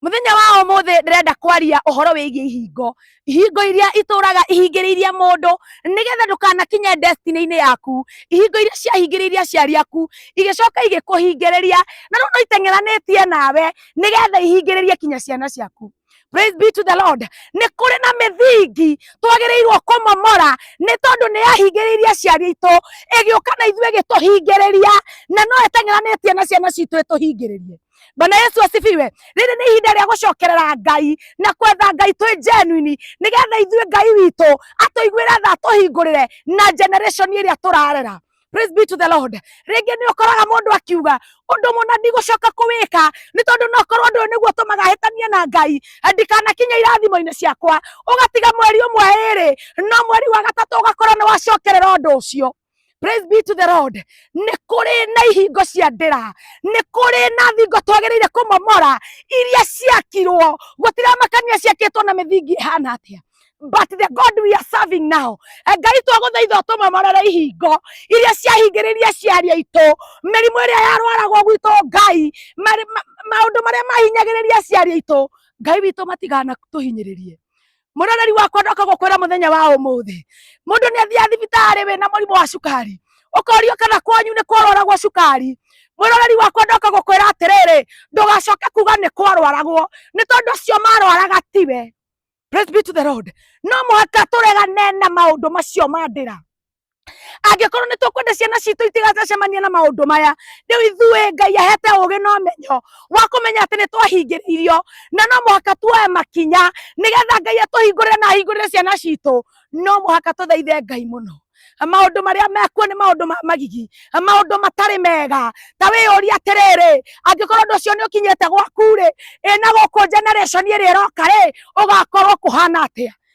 Mũthenya wa ũmũthĩ ndĩrenda kwaria ũhoro wĩgiĩ ihingo. Ihingo iria itũraga ihingĩrĩirie mũndũ nĩgetha ndũkanakinye destiny-inĩ yaku. Ihingo iria ciahingĩrĩirie aciari aku igĩcoka igĩkũhingĩrĩria na rĩu no iteng'eranĩtie nawe nĩgetha ihingĩrĩrie kinya ciana ciaku. Praise be to the Lord. Nĩ kũrĩ na mĩthingi twagĩrĩirwo kũmomora nĩ tondũ nĩ yahingĩrĩirie aciari aitũ ĩgĩũka na ithuĩ ĩgĩtũhingĩrĩria na no ĩteng'eranĩtie na ciana citũ ĩtũhingĩrĩrie. Bwana Yesu asifiwe. Rĩrĩ nĩ ihinda rĩa gũcokerera Ngai na kwetha Ngai twĩ genuine nĩgetha ithuĩ Ngai witũ atũiguĩre tha atũhingũrĩre na generation ĩrĩa tũrarera. Praise be to the Lord. Rĩngĩ nĩ ũkoraga mũndũ akiuga ũndũ mũna ndigũcoka kũwĩka nĩ tondũ no korwo ũndũ ũyũ nĩguo ũtũmaga hĩtanie na Ngai ndikanakinye irathimo-inĩ ciakwa, ũgatiga mweri ũmwe ĩrĩ, no mweri wa gatatũ ũgakorwo nĩ wacokerera ũndũ ũcio. Praise be to the Lord. Nĩ kũrĩ na ihingo cia ndĩra, nĩ kũrĩ na thingo twagĩrĩire kũmomora iria ciakirwo, gũtiramakania ciakĩtwo na mĩthingi ĩhana atĩa. But the God we are serving now, eh, Ngai twagũthaitha ũtũmomorere ihingo iria ciahingĩrĩria ciari aitũ, mĩrimũ ĩrĩa yarwaragwo gwitũ Ngai, marĩ- ma- maũndũ marĩa mahinyagĩrĩria ciari aitũ, Ngai witũ matigana tũhinyĩrĩrie. muroreri wakwa ndoka gukwira muthenya wa umuthi mundu ni athia thibitari wina murimu wa cukari ukorio kana kwanyu ni kwarwaragwo cukari mwiroreri wakwa ndoka gukwira atiriri ndugacoke kuga ni kwarwaragwo ni tondu acio marwaraga tiwe praise be to the lord no muhaka turegane na maundu macio mandira angĩkorwo nĩ tũkwenda ciana citũ itigacemanie na maũndũ maya rĩu ithuĩ ngai ahete ũgĩ na ũmenyo wa kũmenya atĩ nĩ twahingĩrĩirio na no mũhaka tuoe makinya nĩgetha ngai atũhingũrĩre na ahingũrĩre ciana citũ no mũhaka tũthaithe ngai mũno maũndũ marĩa mekuo nĩ maũndũ ma magigi maũndũ matarĩ mega ta wĩyũria atĩrĩrĩ angĩkorwo ũndũ ũcio nĩ ũkinyĩte gwaku-rĩ ĩ na gũkũ generation ĩrĩa ĩroka-rĩ ũgakorwo kũhana atĩa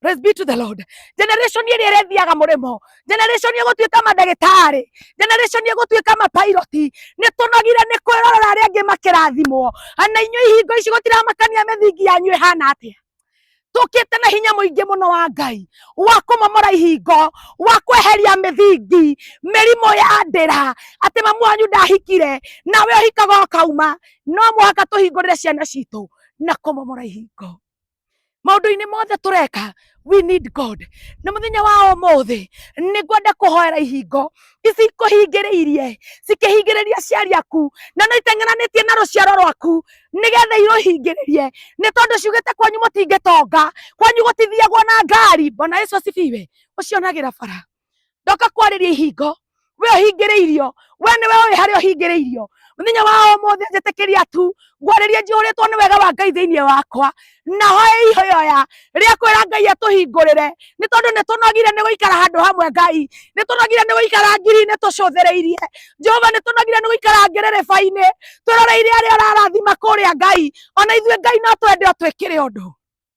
Praise be to the Lord. Generation ĩrĩa ĩrethiaga mũrĩmo, generation ĩgũtuĩka mandagĩtarĩ, generation ĩgũtuĩka mapiloti, nĩ tũnogire nĩ kwĩrorera arĩa angĩ makĩrathimwo. Ana inyuĩ ihingo ici gũtiramakania mĩthingi yanyu ĩhana atĩa? tukite na hinya muingi muno wa ngai wa kumomora ihingo wa kweheria mithingi mirimo ya ndira ati mamu wanyu ndahikire nawe uhikaga ukauma no muhaka tuhingurire ciana citu na kumomora ihingo maundu-ini mothe tureka we need god na muthenya wa umuthi ningwenda kuhoera ihingo ici ikuhingiriirie cikihingiriria aciari aku na no iteng'enanitie na ruciaro rwaku nigetha iruhingiririe ni tondu ciugite kwanyu mutingitonga kwanyu gutithiagwo na ngari bwana yesu asifiwe ucionagira bara ndoka kwarĩria ihingo we ũhingĩrĩirio we nĩwe ũĩ harĩa ũhingĩrĩirio mũthenya wa ũmũthĩ njĩtĩkĩria tu ngwarĩrie njihũrĩtwo nĩ wega wa ngai thĩinĩ wakwa na hoya ihoya rĩa kwĩra ngai atũhingũrĩre nĩ tondũ nĩ tũnogire nĩ gũikara handũ hamwe ngai nĩ tũnogire nĩ gũikara ngiri-inĩ tũcũthĩrĩirie jehova nĩ tũnogire nĩ gũikara ngĩrĩrĩba-inĩ twĩroreire arĩa ũrarathima kũrĩa ngai ona ithuĩ ngai no twende o twĩkĩre ũndũ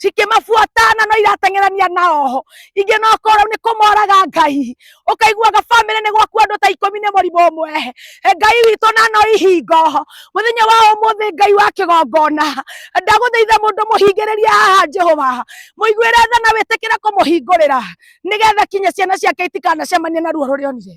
cikĩmabuatana no irateng'erania na oho ingĩ no korwo nĩ kũmoraga ngai ũkaiguaga bamĩrĩ nĩ gwaku andũ ta ikũmi nĩ mũrimũ ũmwe E, ngai witũ na no ihingo mũthenya wa ũmũthĩ ngai wa kĩgongona ndagũthaitha mũndũ mũhingĩrĩrie haha jehova mũiguĩre tha na wĩtĩkĩre kũmũhingũrĩra nĩgetha kinya ciana ciake itikanacemanie na ruo rũrĩa onire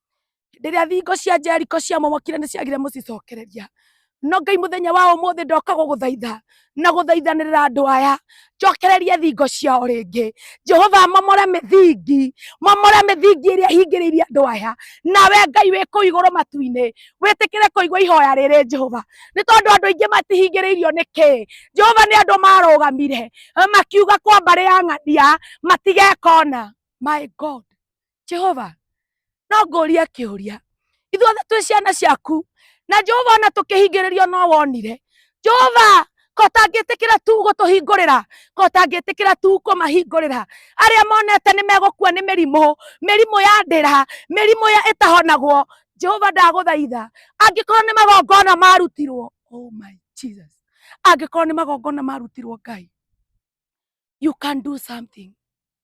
hĩndĩ ĩrĩa thingo cia Jeriko ciamomokire nĩ ciagire mũcicokereria no ngai mũthenya wa ũmũthĩ ndoka gũgũthaitha na gũthaithanĩrĩra andũ aya njokererie thingo ciao rĩngĩ jehova momore mĩthingi momore mĩthingi ĩrĩa hingĩrĩirie andũ aya nawe ngai wĩ kũu igũrũ matu-inĩ wĩtĩkĩre kũigua ihoya rĩrĩ jehova nĩ tondũ andũ aingĩ matihingĩrĩirio nĩ kĩĩ jehova nĩ andũ marũgamire makiuga kwa mbarĩ ya ng'ania matigekona my god jehova no ngũrie kĩũria ithuothe twĩ ciana ciaku na jehova ona tũkĩhingĩrĩrio no wonire jehova ko tangĩtĩkĩra tu gũtũhingũrĩra ko tangĩtĩkĩra tu kũmahingũrĩra arĩa monete nĩ megũkua nĩ mĩrimũ mĩrimũ ya ndĩra mĩrimũ ya ĩtahonagwo jehova ndagũthaitha angĩkorwo nĩ magongona marutirwo oh my jesus angĩkorwo nĩ magongona marutirwo ngai you can do something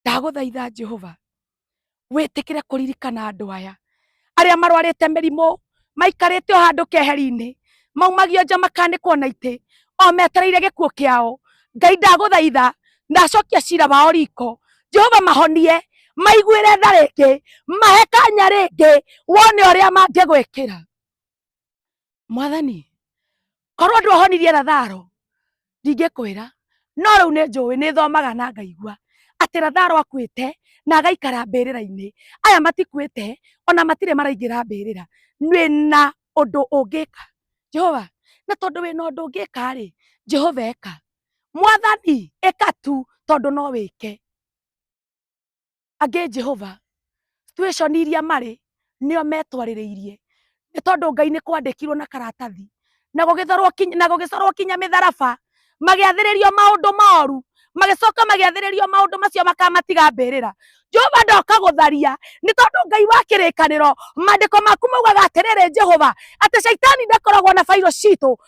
ndagũthaitha jehova wĩtĩkĩre kũririkana andũ aya arĩa marwarĩte mĩrimũ maikarĩte o handũ keheri-inĩ maumagio nja makanĩkwo na itĩ o metereire gĩkuũ kĩao ngai ndagũthaitha ndacokia cira wao riko jehova mahonie maiguĩre tha rĩngĩ mahe kanya rĩngĩ wone ũrĩa mangĩgwĩkĩra mwathani korwo ndwahonirie ratharo ndingĩkwĩra no rĩu nĩ njũĩ nĩ thomaga na ngaigua atĩ ratharo akuĩte na agaikara mbĩrĩra-inĩ aya matikuĩte ona matirĩ maraingĩra mbĩrĩra wĩna ũndũ ũngĩka jehova na tondũ wĩna ũndũ ũngĩka rĩ jehova eka mwathani ĩka tu tondũ no wĩke angĩ Jehova situation iria marĩ nĩo metwarĩrĩirie nĩ tondũ Ngai nĩ kwandĩkirwo na karatathi na gũgĩthorwo kinya na gũgĩcorwo kinya mĩtharaba magĩathĩrĩrio maũndũ moru magĩcoka magĩathĩrĩrio maũndũ macio makamatiga mbĩrĩra Jehova ndoka gũtharia nĩ tondũ Ngai wa kĩrĩkanĩro mandĩko maku maugaga atĩrĩrĩ Jehova atĩ caitani ndakoragwo na bairũ citũ